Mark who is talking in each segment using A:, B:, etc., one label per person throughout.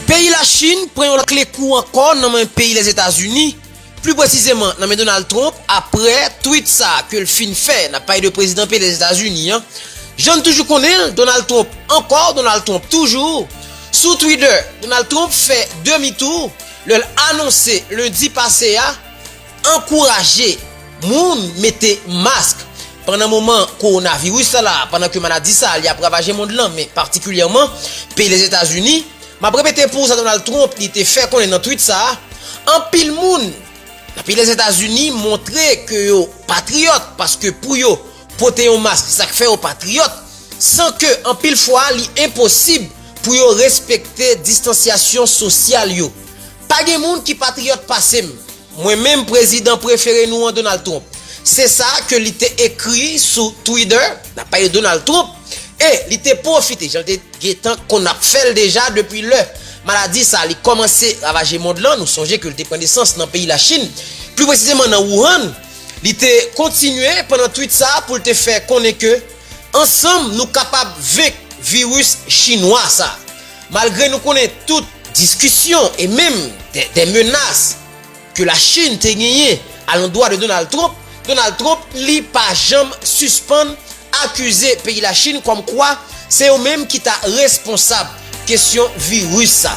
A: Peyi Lachin pran yon kle kou ankò nan men peyi Lèzetazini, pli presizeman nan men Donald Trump apre tweet sa ke l fin fè, n ap pale de prezidan peyi Lèzetazini an, jan n toujou konnen l, Donald Trump ankò, Donald Trump toujou. Sou Twitter, Donald Trump fè demi tou lè l anonse lendi pase a, Ankouraje moun mete mask pandan moman kowonaviris la la, pandan ke maladi sa li ap ravaje mond lan men patikilyèman peyi Lezetazini. M ap repete pou ou sa Donald Trump li te fè konnen nan twit sa, Anpil moun nan peyi Lezetazini montre ke yo patriyòt paske pou yo pote yon mask sa k fè yo patriyòt, san ke anpil fwa li enposib pou yo respekte distansyasyon sosyal yo. Pa gen moun ki patriyòt pase m. Mwen menm prezidan prefere nou an Donald Trump. Se sa ke li te ekri sou Twitter, n ap pale Donald Trump, e li te pwofite, jan l te gentan konn ap fè l deja depi lè maladi sa li kòmanse ravaje mond lan, nou sonje ke li te pran nesans nan peyi Lachin, pli presizeman nan Wuhan, li te kontinye pandan twit sa pou l te fè konnen ke ansanm nou kapab venk viris chinwa sa. Malgre nou konnen tout diskisyon e menm dè menas ke la Chine te genyen a londwa de Donald Trump, Donald Trump li pa janm sispann akize peyi la Chine kòm kwa se yo menm ki ta responsab kesyon virus sa.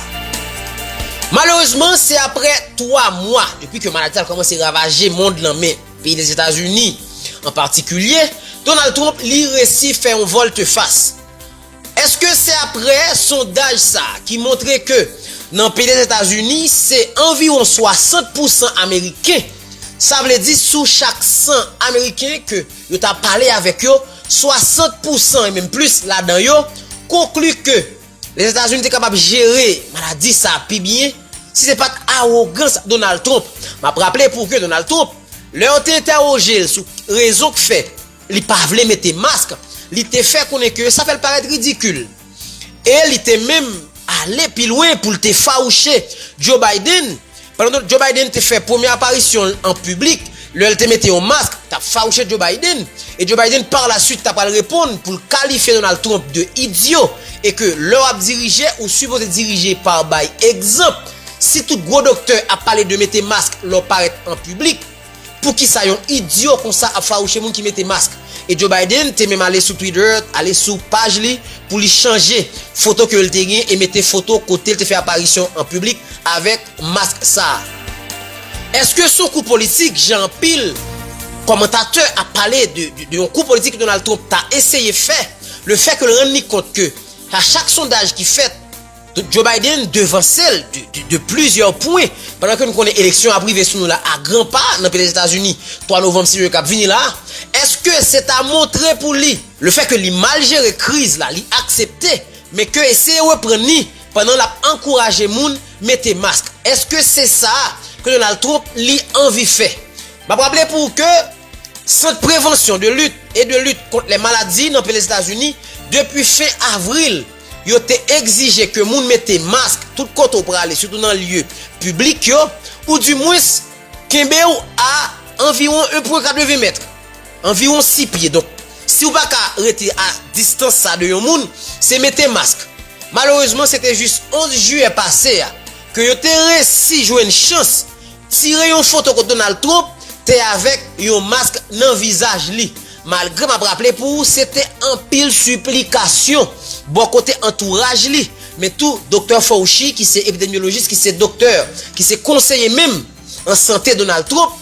A: Malerezman se apre 3 mwa depi ke maladi a kòmanse ravaje mond lan men peyi Lezetazini an patikilye, Donald Trump li resi fè yon volte fas. Eske se aprè sondaj sa a ki montre ke nan peyi Lèzetazini se anviwon 60 pou san ameriken, sa vle di sou chak 100 ameriken ke yo ta pale avèk yo, 60 pou san e menm plis ladan yo konkli ke Lèzetazini te kapab jere maladi sa a pi byen si se pat awogans Donald Trump. M ap raple pou ke Donald Trump, lè yo te entèwoje l sou rezon k fè. Li pa vle mete mask. Li te fè konnen ke sa fè l parèt ridikil. E li te menm ale pi lwen pou l te fawouche Joe Biden. Pandan Joe Biden te fè premye aparisyon l an piblik, lè l te mete yon mask, t ap fawouche Joe Biden. E Joe Biden par la suite ta pral reponn pou l kalifye Donald Trump de idyo e ke lè w ap dirije, ou sipoze dirije par bay egzanp. Si tout gwo doktè ap pale de mete mask lè w parèt an piblik, Poukisa yon idyo konsa ap fawouche moun ki mete mask? E Joe Biden te menm ale sou Twitter, ale sou paj li pou li chanje foto ke l te gen e mete foto kote l te fè aparisyon an piblik avèk mask sa a. Eske s on kou politik jan anpil kòmantatè ap pale de yon kou politik ke Donald Trump ta eseye fè, le fè ke l rann li kont ke a chak sondaj ki fèt, Donk Joe Biden devanse l de plizyè pwen, pandan ke nou konnen eleksyon ap rive sou nou la a gran pa nan peyi Lèzetazini 3 novanm si yo kap vini la a, èske se ta montre pou li, le fè ke li mal jere kriz la li aksepte, men ke eseye reprann ni pandan lap ankouraje moun mete mask, èske se sa ke Donald Trump li anvi fè? Map raple pou ou ke Sant Prevansyon, de Lit e de Lit kont lè Maladi nan peyi Lèzetazini depi fen avril. yo te egzije ke moun mete mask tout kote w prale sitou nan lye piblik yo, ou di mwens kenbe w a anviwon 1 pwen 80 mèt, anviwon 6 pye, donk si w pa ka rete a distans sa de yon moun, se mete mask. Malerezman se te jis 11 jiyè pase a ke yo te resi jwenn chans, Tire yon foto kot Donald Trump te avek yon mask nan vizaj li. Malgre map raple pou ou se te anpil siplikasyon bò kote antouraj li, men tou Doktè Fauci ki se epidemyolojis ki se doktè ki se konseye menm an sante Donald Trump,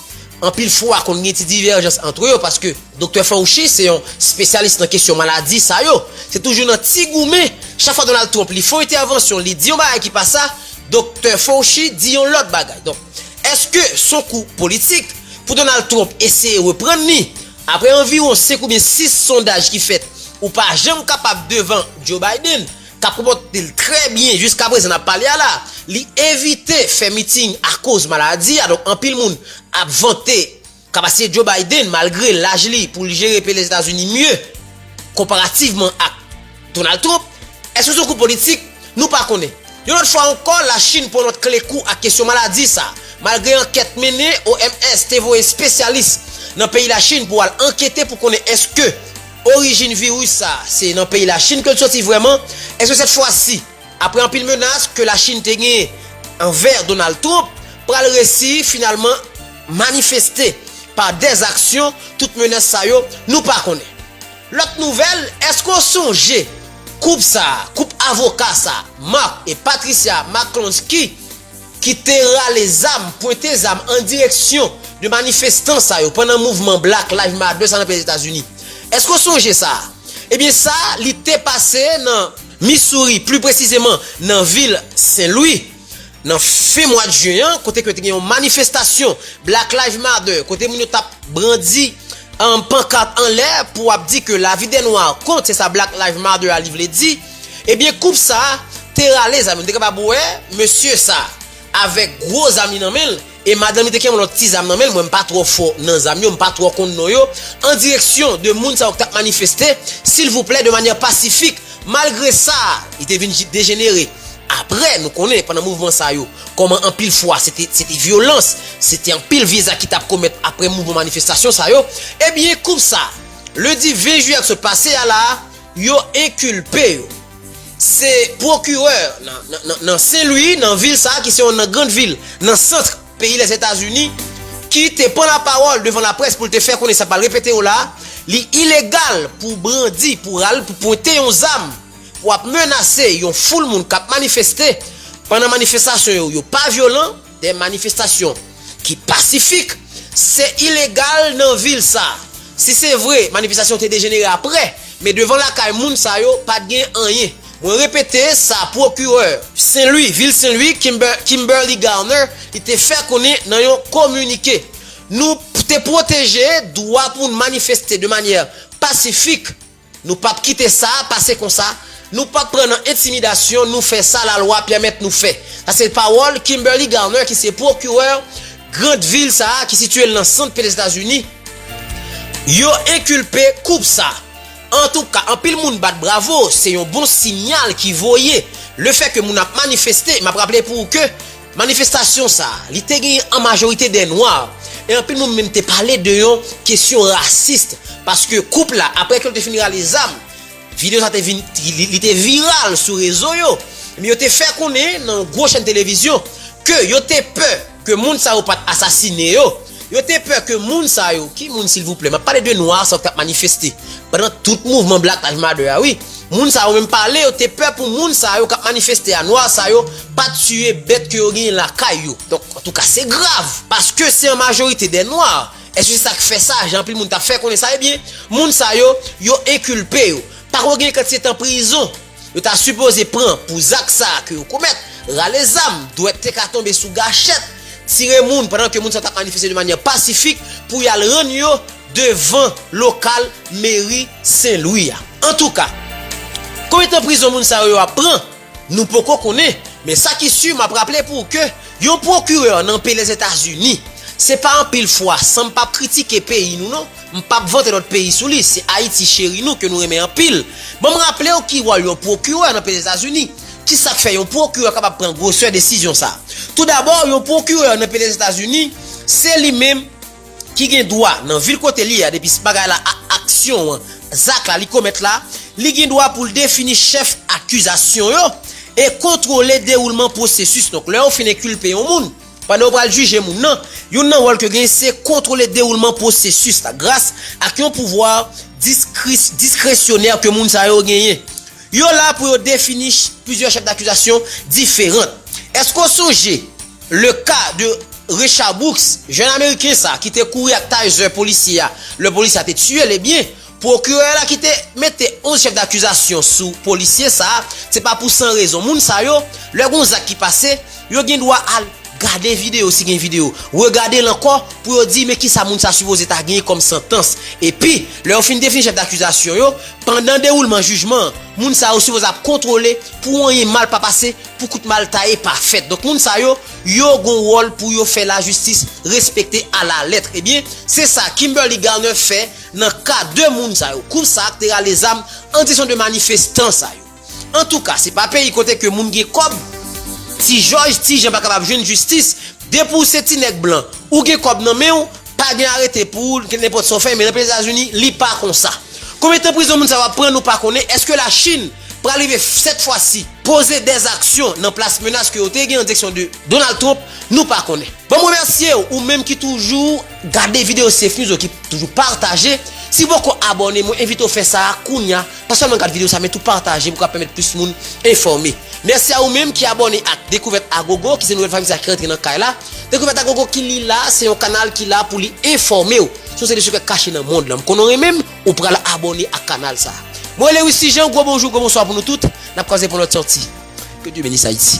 A: anpil fwa konn gen ti divèjans antre yo paske Doktè Fauci se yon spesyalis nan kesyon maladi sa yo, se toujou nan ti goumen, chak fwa Donald Trump li fon entèvansyon li di yon bagay ki pa sa, Doktè Fauci di yon lòt bagay. Donk, èske s on kou politik pou Donald Trump eseye reprann li? Apre anviwon 5 oubyen 6 sondaj ki fèt, ou pa janm kapab devan Joe Biden, k ap konpòte l trè byen jiskaprezan n ap pale a la. Li evite fè meeting akoz maladi a, donk anpil moun ap vante. Kapasite Joe Biden malgre laj li pou l jere peyi Lèzetazini mye konparativman ak Donald Trump, èske se yon kou politik? Nou pa konnen. Yon lòt fwa ankò Lachin pran lòt kle kou ak kesyon maladi sa a, malgre ankèt mennen, OMS te voye espesyalis nan peyi Lachin pou al ankete pou konnen èske orijin viris sa a se nan peyi Lachin ke l soti vrèman, èske sèt fwa si. Aprè anpil menas ke la Chine te genyen anvè Donald Trump pral resi finalman manifeste pa dèz aksyon tout menas sa yo nou pa konnen. Lòt nouvèl eske w sonje koup sa a koup avoka sa Mark et Patricia McClonsky ki te rale zam pwente zam an direksyon de manifestan sa yo pandan mouvman Black Live Matter sa nan peyi Etazini eske w sonje sa a ebyen sa li te pase nan Missouri, pli presizeman nan vil Sen Lwi, nan fen mwad jen an, kote ke te gen yon manifestasyon Black Lives Matter, kote moun yo tap brandi pankat anlè pou ap di ke lavi de nwa kont, se sa Black Lives Matter a li vle di, ebyen koup sa te rale zam yo, nou te kapab wè mesye sa. avèk gwo zam li nan men l e madanm li te gen yon lòt ti zam nan men l mwen m pa twò fò nan zam yo m pa twò konn non yo an direksyon 2 moun sa yo ki t ap manifeste silvouplè de manyè pasifik malgre sa li te vin dejenere aprè nou konnen pandan mouvman sa yo kòman anpil fwa se te se te vyolans se te anpil vye zak ki t ap komèt aprè mouvman manifestasyon sa yo ebyen konsa ledi 20 jiyè k sot pase a la a. yo enkilpe yo. Se pwokirè nan Sen Lwi, nan vil sa a ki se yonn nan grand vil nan sant peyi Lèzetazini, ki te pran lapawòl devan laprès pou l te fè konnen sa pral repete yo la a, li ilegal pou w brandi, pou w pwente yon zam, pou w ap menase yon foul moun k ap manifeste, pandan manifestasyon yo yo pa vyolan. Des manifestations ki pasifik se ilegal nan vil sa. Si se vre manifestasyon te dejenere aprè, men devan lakay moun sa yo pat gen anyen. Mwen repete sa pwokirè. Senlwi, vil Senlwi, Kimberly Garner, li te fè konnen nan yon kominike. Nou te pwoteje dwa pou n manifeste de manyè pasifik. Nou pap kite sa pase konsa, nou pap pran nan entimidasyon, nou fè sa lalwa pèmèt nou fè. Sa se pawòl Kimberly Garner ki se pwokirè grand vil sa a ki sitye l nan sant pete Etazini. Yo enkilpe koup sa. Antouka anpil moun bat bravo, se yon bon sinyal ki voye. Le fè ke moun ap manifeste, map raple pou ou ke. Manifestasyon sa a, li te genyen an majorite dè nwa, e anpil moun menm te pale de yon kesyon rasis, paske koup la, apre ke yo te fin rale zam, video sa te vin, li te viral sou rezo yo, ebyen yo te fè konnen nan yon gwo chèn televizyon, ke yo te pè ke moun sa yo pat asasine yo. Yo te pè ke moun sa yo, ki moun silvouplè? Map pale de nwa sa yo ki tap manifeste pandan tout mouvman Black Live Matter a wi. Moun sa yo menm pale yo te pè pou moun sa yo kap manifeste a, nwa sa yo, pa tiye bèt ke yo genyen lakay yo. Donk, antouka se grav, paske se an majorite dè nwa. Eske se sak fè sa, jan anpil moun tap fè konnen sa? Ebyen, moun sa yo, yo enkilpe yo. Pako gen kantite tan prizon. Yo ta sipoze pran pou zak sa ke yo komèt, rale zam, dwèt te ka tonbe sou gachèt, tire moun pandan ke moun sa tap manifeste de manyè pasifik pou yal rann yo devan lokal meri Sen Lwi a. Antouka, konbyen tan prizon moun sa yo yo ap pran, nou poko konnen, men sa ki si map raple pou w ke yon pwokirè nan pey Lèzetazini, se pa anpil fwa sanm pap kritike peyi nou non, M pap vote lòt peyi sou li, se Ayiti cheri nou ke nou renmen anpil. Banm raple w ki wòl yon pwokirè nan peyi Etazini, kisa k fè yon pwokirè kapab pran gwosè desizyon sa. Tou dabò, yon pwokirè nan peyi Lezetazini, se li menm ki gen dwa nan vil kote l ye a depi s bagay la a aksyon an, zak la li komèt la, li gen dwa pou l defini chèf akizasyon yo e kontwole dewoulman pwosesis. Donk lè yo fin enkulpe yon moun, Pandan yo pral jije moun nan, youn nan wòl ke genyen se kontwole dewoulman pwosesis la gras ak yon pouvwa diskresyonè ke moun sa yo genyen. Yo la pou yo defini plizyè chèf dakizasyon diferant. Eske w sonje le ka de Rayshard Brooks, jèn ameriken sa ki te kouri ak taser polisye a lè polisye a te tiye l ebyen Pwokirè la ki te mete 11 chèf dakizasyon sou polisye sa a, se pa pou san rezon. Moun sa yo, lè gen yon zak ki pase, yo gen dwa al gade videyo si gen videyo, regade l ankò pou yo di men ki sa moun sa sipoze ta genyen kòm santans. Epi, lè yo fin defini chèf dakizasyon yo, pandan dewoulman jijman an, moun sa yo sipoze ap kontwole pou anyen mal pa pase, pou kout mal taye pa fèt. Donk moun sa yo, yo gen wòl pou yo fè lajistis respekte alalèt. Ebyen, se sa Kimberly Garner fè. Nan ka 2 moun sa yo, koup sa ak te rale zam an direksyon 2 manifestan sa yo. Antouka, se pa peyi kote ke moun gen kòb. Ti Jòj, Ti Jan pa kapab jwenn jistis, depi w se ti nèg blan, ou gen kòb nan men w, pa gen arete pou ou, nenpòt sa w fè, men nan peyi Etazini, li pa konsa. Konbyen tan prizon moun sa yo ap pran, nou pa konnen, èske La Chin pral rive sèt fwa si poze dè aksyon nan plas menas ke yo te gen an direksyon 2 Donald Trump, nou pa konnen. Bon m remèsye w, ou menm ki toujou. Gade video Safe News yo ki toujou pataje. Si w poko abòne, mwen envite w fè sa a kounya. Pa sèlman gad video sa men tou pataje pou ka pèmèt plis moun enfòme. Mèsi a ou menm ki abòne ak Dekouvèt a Gogo ki se nouvèl fanmi sa ki rantre nan kay la. Dekouvèt a Gogo ki li la se yon kanal ki la pou li enfòme w sou yon seri de sekrè kache nan mond lan. M konnen w renmen m, ou pral abòne ak kanal sa a. Mwen rele Wisly Jean, gwo bonjou, gwo bonswa pou nou tout. N ap kwaze pou lòt sòti. Que Dieu benisse Haïti.